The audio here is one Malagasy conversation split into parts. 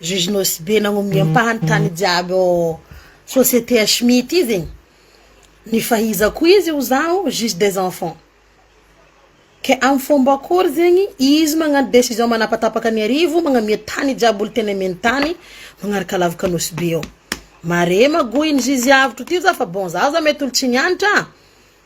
Juge Nosibe nagnomey ny ampahany tany jiaby ao société HMI ity zegny ny fahaizako izy ho zaho juge des enfants ke amy fomba akory zegny izy magnano décision manapatapaka ny arivo magnome tany jiaby olo tena omeny tany magnaraka lavaka Nosibe ao mare magoa iny juge avotro ty za fa bon za za mety olo tsy nianatra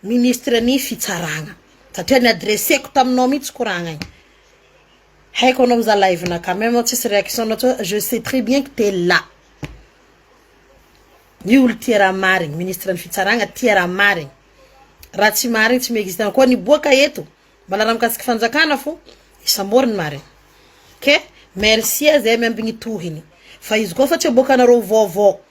Ministre ny fitsaragna satria ny adresseko taminao mitsy ko ragnagny haiko anao za live na ka même tsisy réaction nao tsô je sais très bien que t'es là ny olo tia raha marigny ministre ny fitsaragna tia raha marigny raha tsy marigny tsy mi-existe na koa niboaka eto mbola raha mikasiky fanjakana fô isambory ny marigny ke merci zay miambigny tohiny fa izy koa fa tsy aboakanareo vaovao.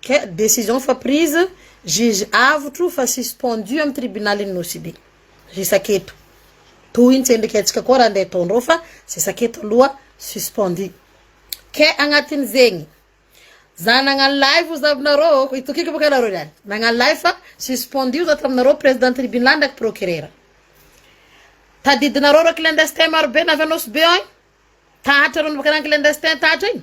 Kay decision efa prise, juge avotro fa suspendu amin'ny tribunalin'i Nosy be. Resaka eto. Toy ny tsendriky antsika koa raha andeha ataondreo fa zesaka eto aloha suspendu. Kay agnatin'izegny, za nagnano live ozy aminareo ô, itokiako bôka nareo niany, nagnano live fa suspendu za taminareo président tribunal ndraiky procureur. Tadidinareo reo clandestin maro be navy a Nosy be agny, tahatra reo navy akagny clandestin tahatra igny.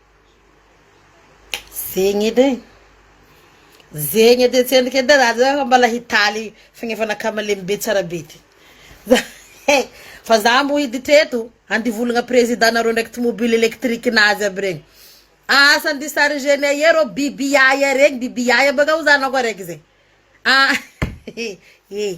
Zegny edy e, zegny edy tsendriky edy za zao efa mbola hitaly fagnefana kamalemy be tsara be ty fa za mbo hiditra eto handivolagna président nareo ndraiky tomobile électrique nazy aby regny, asa ande chargena eo reo biby yaya regny, biby yaya baka hoy za anao koa araiky zay, ah eh.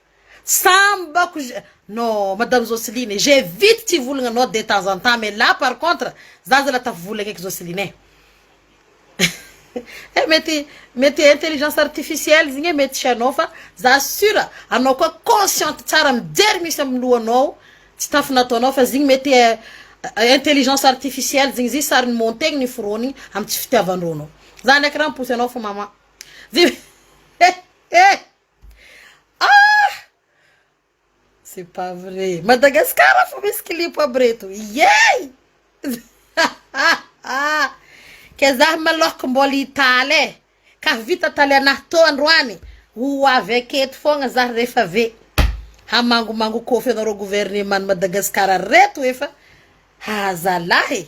Sambako je no madame Joseline e, j'ai vite tia volagna nao de temps en temps mais là par contre za zala tafavolagna eky Joseline eh eh mety mety intelligence artificielle zegny eh mety tsy anao fa za sur anao koa consciente tsara mijery misy am lohanao tsy tafy nataonao fa zegny mety eh intelligence artificielle zegny izy sary ni-montegny ni-foronigny am tsy fitiavan-drô anao za ndraiky raha mi-pousse anao fô maman je eh eh. Ah! C'est pas vrai. Madagascar fo misy clip aby reto. Yey! Ke zah malôha ko mbôla hitaly e. Ka vita taly anahy tô androany, ho avy aky eto fôgna zah refa ve hamangomango kôfy anarô gouvernement an'i Madagascar reto efa ha zalahy e.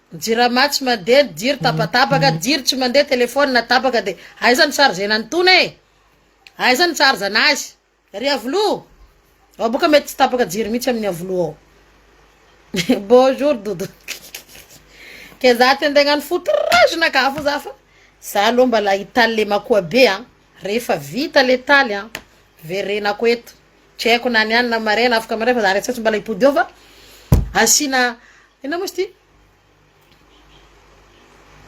Jirama tsy mandeha ny jiro tapatapaka jiro tsy mandeha telephone tapaka de aiza ny chargena ny tona e aiza ny charge anazy ry avilo ao boka mety tsy tapaka jiro mihitsy amin'ny avilo ao bonjour dodo ke za te nde hagnano foutrage na ka fo za fa za aloha mbala hitaly le makoa be a rehefa vita le taly a verenako eto Tsy haiko na ny any na marais na afaka marais fa za re tsy mbola hibodo eo fa asiana inona moa izy ity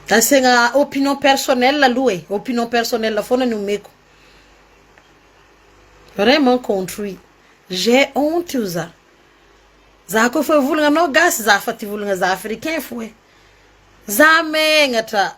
asiagna opinion personnel aloha e, opinion personnel foana ny omeko. Vraiment contre io, j'ai honte io za, za ko efa volana anao gasy za fa ty volana za africain fô e, za megnatra.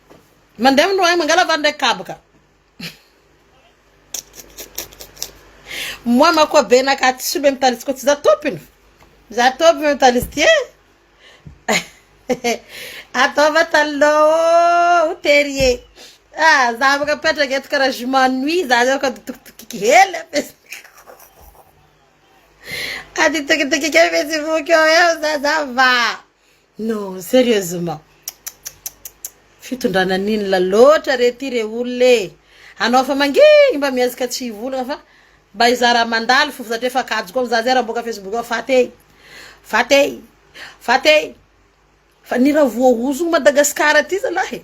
Mandeha amin'ny roahy mangala vary ndray kabaka. Moa mako be naka tsy soa be mitalitsy ko tsy za tompony. Za tompony mitalitsy ty eh. Ataova taloha o tery e. Ah, za afaka petraka eto karaha je m'ennuie za zao ka dotokitokiky hely ampiasako. Aditokitokika mihitsy voky eo eo za za va. Non serieusement fitondrana ninona loatra re ty re olona e anao efa mangingy mba mihazika tsy hivolagna fa mba hizara mandalo fo satria efa kajo koa za zay raha miboaka facebook ao faty e faty e faty e fa ny raha voahozogno Madagascar ty zalahy e.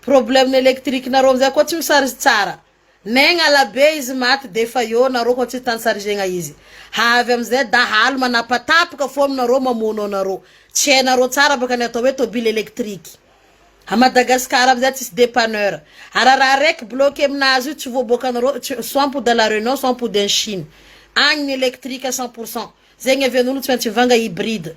Problème électrique nareo amzay koa tsy misarge tsara ne gnala be izy maty defa eo nareo koa tsy tansargena izy hahavy amzay dahalo manapatapaka fo aminareo mamono anareo tsy hainareo tsara baka ny atao hoe tobile électrique a Madagascar amzay tsisy dépanneur ara raha raiky bloque aminazy io tsy voaboakanareo tsy soit mipody à la Réunion soit mipody any Chine agny ny électrique cent pour cent zegny avy anolo tsy maintsy mivanga hybride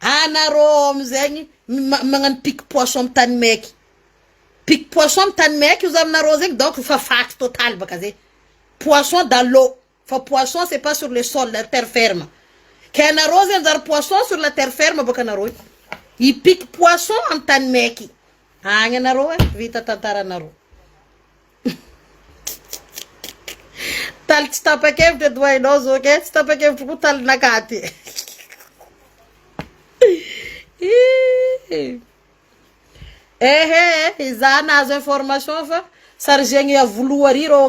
Anarô ao amizegny magnano pique poisson am tany maiky, pique poisson am tany maiky oza aminarô zegny donc efa faty totaly baka zay, poisson dans l'eau fa poisson c'est pas sur le sol la terre ferme, ke anarô zay anjary poisson sur la terre ferme baka anarô io, i pique poisson am tany maiky agny anarô e vita tantaranarô. Taly tsy tapa-kevitra eto hainao zao kay tsy tapa-kevitra koa talinakà ty ehe izaho nahazo information fa chargegny avolohary reo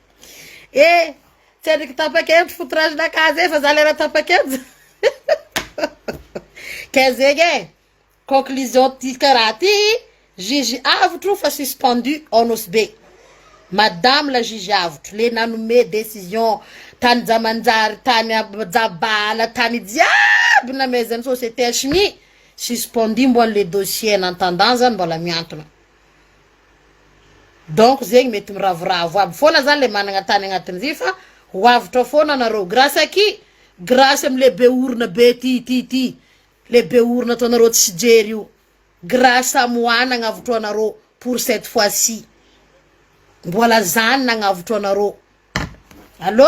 Eh, tsy andriky tapa-kevitry foutrage la case fa za lera tapa-kevitra. Ka zegny e, conclusion ty karaha ty, juge avotro fa suspendu ao Nosy Be. Madame la juge avotro, le nanome décision tany Jamanjary, tany Ab- Jabala, tany jiaby namezan'ny société HMI, suspendu mbola le dossier en attendant zany mbola miantona. Donc zegny mety miravoravo aby fona zany le managna tany agnatiny vy fa ho avotra fona nareo grace aki grace am le be orona be ty ty ty le be orona ataonareo tsy jery io grace am wa nagnavotro anareo pour cette fois ci mbola zany nagnavotro anareo allo.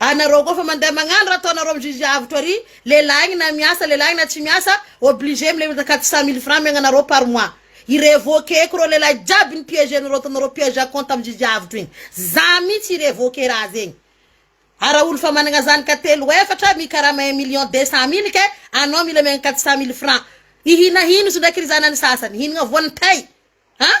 Anareo koa fa mandeha magnano raha ataonareo amin'ny juge avotra ary lelahigny na miasa lelahigny na tsy miasa obligé milefa quatre cent mille francs miagnanareo par mois i revoquer ko reo lelahy jiaby ni piège anareo ataonareo piège à compte amin'ny juge avotra igny za mintsy i revoquer raha zegny ara olo fa managna zanaka telo efatra mikarama un million deux cent mille ke anao mila miagna quatre cent mille francs i hina hino izy ndraiky ry zanany sasany hinagna voan'ny tay an!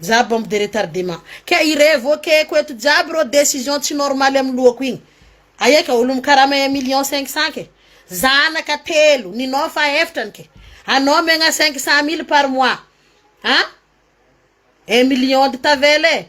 Za bombe de retardement kay i revokeko eto jiaby reo decision tsy normal am lohako igny aia ka olo mikarama un million cinq cent ke zanaka telo ninao fa eftra ny ke anao megna cinq cent mille par mois an un million de tavela e